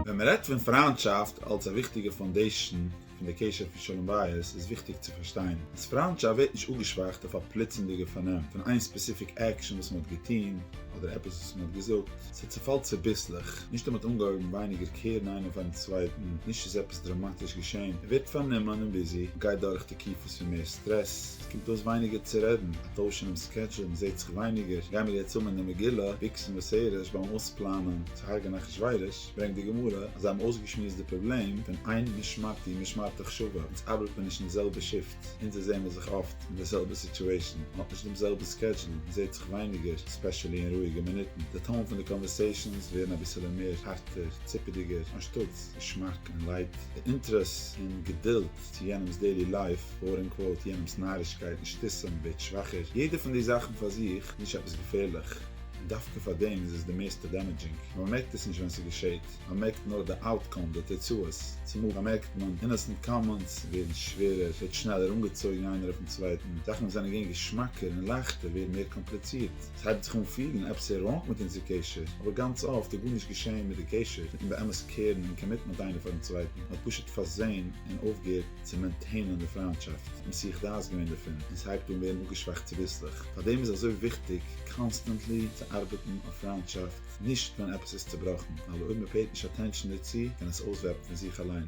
ווען מען רעדט פון פריינטשאפט אלס א וויכטיגע פאונדעישאן פון די קשר פון שלום בית, איז וויכטיג צו פארשטיין אז פריינטשאפט ווערט נישט אפגעשוואכט אויף א פלוצמדיגע פארנעם פון איין ספעסיפיק עקשאן וואס מען האט געטון אדער עפעס וואס מען האט געזאגט, ס'צעפאלט צוביסלעך, נישט אז מען האט אנגעהויבן ווייניגער קערן איין אויף איין צווייטן, נישט איז עפעס דראמאטיש געשען, ער ווערט פארנומען און ביזי, גייט דורך תקופות פון מער סטרעס. קומט אויס ווייניגער צו רעדן, א טויש אינעם סקעדזשול, מ'זעט זיך ווייניגער, גיימיר יעצט אן אין די מגילה, ביקס און ושערות ביים אויספלאנען צו הרג'ען אחשורוש, ברענגט די גמרא אז זיי האבן אויסגעשמועסט די פראבלעם פון איין משמרתי משמרתך שווה, אונז ארבעט מען נישט אין די זעלבע שיפט, אונז זעמער זיך אפט אין די זעלבע סיטועשן, מען האט נישט דעם זעלבן סקעדזשול, מען זעט זיך ווייניגער, ספעשעלי אין רואיגע מינוטן, די טאון פון די קאנווערסעישאנס ווערן אביסעלע מער הארטער, ציפעדיגער, אנשטאטס געשמאק און לייט, די אינטערעס און געדולד. צו יענעמס דעילי לייף, קוואוט און קוואוט, יענעמס נארישקייט און שטיסען ווערט שוואכער, יעדע פון די זאכן פאר זיך איז נישט עפעס געפערליך, און דווקא פאר דעם איז עס די מערסטע דעמעדזשינג, ווייל מען מערקט עס נישט ווען ס'געשעהט, מען מערקט נאר די אוטקאם, די תוצאות, צומאל באמערקט מען אינעסענט קאמענטס ווערן שווערער, ווערט שנעלער אנגעצויגן איינער אויפן צווייטן, זאכן וואס זענען געווען געשמאקער און לייכטער ווערן מער קאמפליצירט, ס'הייבט זיך אן פילן עפעס איז ראנג מיט אונזער קשר, אבער גאנץ אפט איז גארנישט געשעהן מיט די קשר, מיטן באמת קעירן און קאמיטן מיט איינער פארן צווייטן, מען האט פשוט פארזעהן. און אויפגעהערט צו מעינטעינען די פריינטשאפט, מסיח דעת געווען דערפון, און ס'הייבט אן ווערן אפגעשוואכט צוביסלעך, פארדעם איז אזוי וויכטיג קאנסטענטלי צו ארבעטן אויף פריינטשאפט, נישט ווען עפעס איז צובראכן, ווייל אויב מ'פעיט נישט אטענשאן דערצו קען עס אויסוועפן פון זיך אליין.